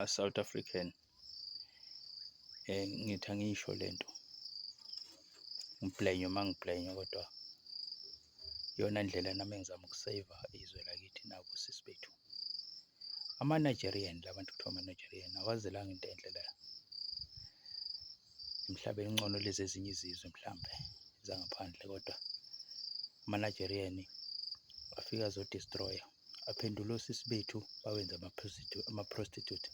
South African eh ngithi angisho lento ngibhlenywe mangibhlenywe kodwa iyona ndlela nami engizama ukusave izwe lakithi nabo sisi bethu ama-Nigerian labantu kuthiwa ama-Nigerian awazelanga into enhle la emhlabeni ngcono lezi ezinye izizwe mhlambe zangaphandle kodwa ama-Nigerian afika azodestroya Aphendula osisi bethu bawenza ama-prostitute.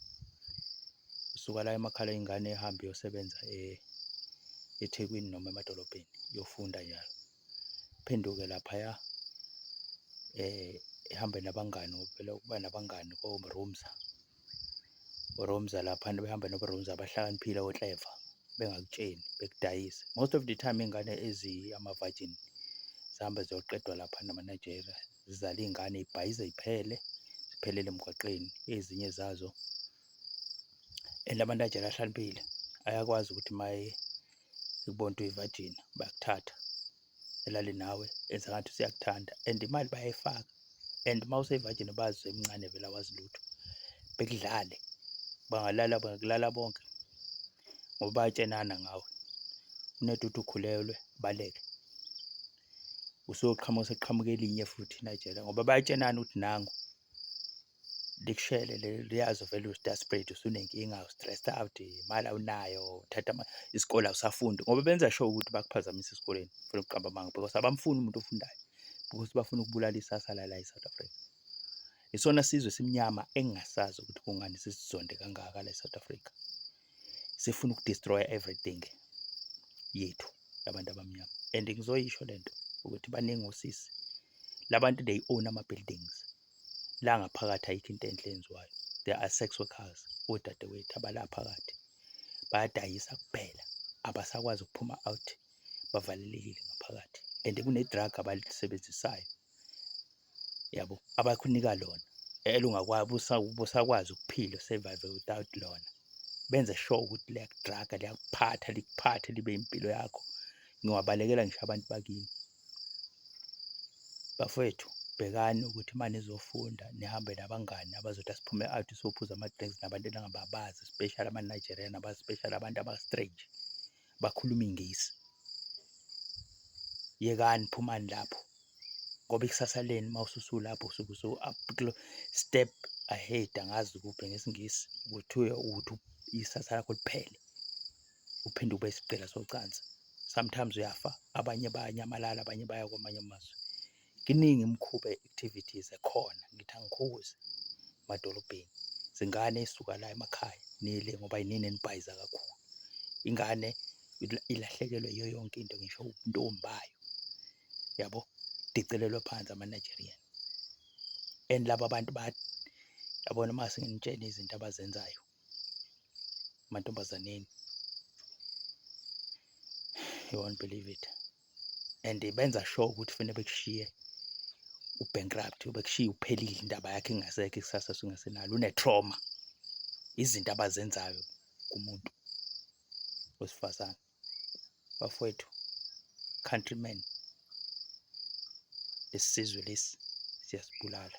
Usuka la emakhala ingane ehambe iyosebenza e, eThekwini noma emadolobheni yofunda njalo. Phenduke laphaya eh ehambe nabangani ngokuvela ukuba nabangani koMrumza. URumza lapha behambe noMrumza abahlakaniphile okleva bengakutsheni bekudayise. Most of the time ingane ezi ama-virgin zihambe ziyoqedwa lapha namaNigeria zizale iy'ngane y'bhayize y'phele ziphelele emgwaqeni ezinye zazo and abantu ajele ahlaniphile ayakwazi ukuthi uma ekubona ukuthi uyivajina bayakuthatha elale nawe enza ngathi useyakuthanda and imali bayayifaka and uma useyivajini bazi emncane vele awazi lutho bekudlale bangalala bangakulala bonke ngoba bayatshenana ngawe unedudu ukhulelwe baleke usuyoqhamuka usekuqhamuka elinye futhi najela ngoba bayatshenana ukuthi nangu likushele leli liyazi vele uyi-desperate usunenkinga u-stressed out imali awunayo uthatha ama- isikole awusafundi ngoba benza sure ukuthi bakuphazamise esikoleni funa ukuqamba amanga because abamfuni umuntu ofundayo because bafuna ukubulala isasa lala e-south africa isona sizwe esimnyama engingasazi ukuthi kungani sisizonde kangaka la e-south africa sifuna ukudestroya everything yethu labantu abamnyama and ngizoyisho lento ukuthi baningi osisi labantu they own ama buildings la ngaphakathi ayikho into enhle enziwayo there are sex workers odadewethu abala phakathi bayadayisa kuphela abasakwazi ukuphuma out bavalelekile ngaphakathi and kune drug abalisebenzisayo yabo abakunika lona elungabusakwazi ukuphila survive without lona benze sure ukuthi liyakudraga liyakuphatha likuphathe libe impilo yakho ngiwabalekela ngisho abantu bakini bafowethu bhekani ukuthi uma nizofunda nihambe nabangani abazothi asiphume out sophuza ama-drinks nabantu eningababazi especially ama-nigerian abaspecially abantu aba-strange bakhuluma ingisi yekani phumani lapho ngoba ikusasa leni mawususu lapho usuke so up step ahead angazi kuphi ngesingisi kuthiwe ukuthi isasa lakho liphele uphinde ube isigqila socansi sometimes uyafa abanye bayanyamalala abanye baya kwamanye amazwe Kiningi imikhuba activities ekhona ngithi angikhuzi emadolobheni zingane isuka la emakhaya nile ngoba yinini enibhayiza kakhulu ingane ilahlekelwe yiyo yonke into ngisho ubuntombi bayo yabo dicelelwe phansi ama-nigerian and laba bantu yabona uma senginitshela izinto abazenzayo amantombazaneni you won't believe it and benza sure ukuthi fanele bekushiye ubankrupt bekushiye uphelile indaba yakhe ingasekho ikusasa sungasenalo une-trauma izinto abazenzayo kumuntu wesifazane bafowethu countryman lesizwe lesi siyasibulala